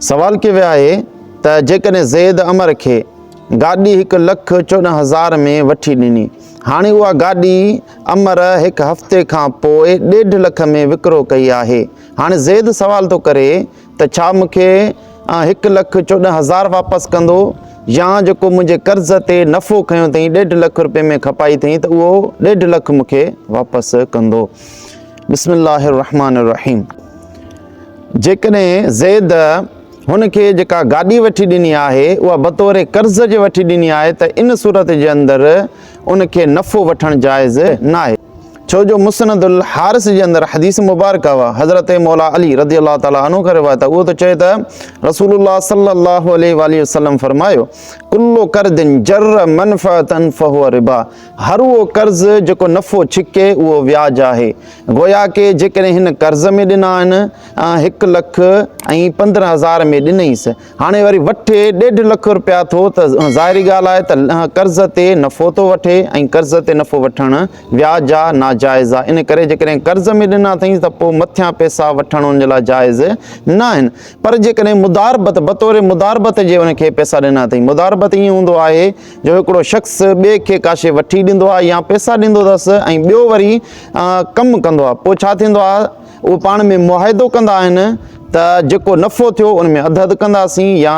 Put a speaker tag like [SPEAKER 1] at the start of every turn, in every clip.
[SPEAKER 1] سوال ڪيو ويو آهي ته جيڪڏهن زيد عمر کي گاڏي هڪ لک چوڏهن هزار ۾ وٺي ڏني، هاڻي اها گاڏي عمر هڪ هفتي کان پوء ڏيڍ لک ۾ وڪرو ڪئي آهي، هاڻي زيد سوال ٿو ڪري ته ڇا مون کي هڪ لک چوڏهن هزار واپس ڪندو يا جيڪو منهنجي قرض تي نفعو کنيو اٿئي ڏيڍ لک رپين ۾ کپائي اٿئي ته اهو ڏيڍ لک مون کي واپس ڪندو؟ بسم الله الرحمٰن الرحيم. جيڪڏهن زيد هن کي جيڪا گاڏي وٺي ڏني آهي اها بطور قرض جي وٺي ڏني آهي ته ان صورت جي اندر ان کي نفعو وٺڻ جائز ناهي ڇو جو مسند الحارث جي اندر حديث مبارڪه اها حضرت مولا علي رضي الله تعالٰي عنه کان روايت اهو ٿو چئي ته رسول الله صلي الله عليه واله وسلم فرمايو کلو قرض جر منفعه فهو ربا هر اهو قرض جيڪو نفعو ڇڪي اهو وياج آهي گويا ڪي جيڪڏهن هن قرض ۾ ڏنا آهن ۽ هڪ لک ۽ پندرهن هزار ۾ ڏنئيس هاڻي وري وٺي ڏيڍ لک روپيا ٿو ته ظاهري ڳالهه آهي ته قرض تي نفعو ٿو وٺي ۽ قرض تي نفعو وٺڻ وياج جا ناجائز آهي ان ڪري جيڪڏهن قرض ۾ ڏنا اٿئينس ته پوء مٿيان پئسا وٺڻ ان جي لاء جائز ناهن پر جيڪڏهن مداربت بطور مداربت جي ان کي پئسا ڏنا اٿئين مداربت ائين هوندو آهي جو هڪڙو شخص ٻئي کي ڪا شيء وٺي ڏيندو آهي يا پئسا ڏيندو اٿس ۽ ٻيو وري ڪم ڪندو آهي پوء ڇا ٿيندو آهي اهي پاڻ ۾ معاهدو ڪندا آهن ته جيڪو نفعو ٿيو ان ۾ اڌ اڌ ڪنداسين يا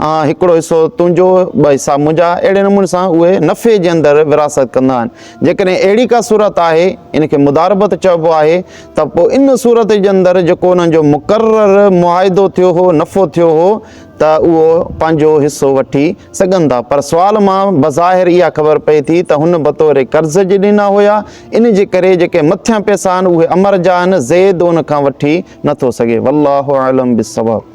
[SPEAKER 1] هڪڙو حصو تنهنجو ٻه حصا منهنجا اهڙي نموني سان اهي نفعي جي اندر ورهاست ڪندا آهن جيڪڏهن اهڙي ڪا صورت آهي ان کي مداربت چئبو آهي ته پوء ان صورت جي اندر جيڪو انهن جو مقرر معاهدو ٿيو هو نفعو ٿيو هو ته اهو پنهنجو حصو وٺي سگهن ٿا پر سوال مان بظاهر اها خبر پئي ٿي ته هن بطور قرض جي ڏنا هيا ان جي ڪري جيڪي مٿيان پيسا آهن اهي امر جا آهن زيد ان کان وٺي نه ٿو سگهي والله اعلم بالصواب.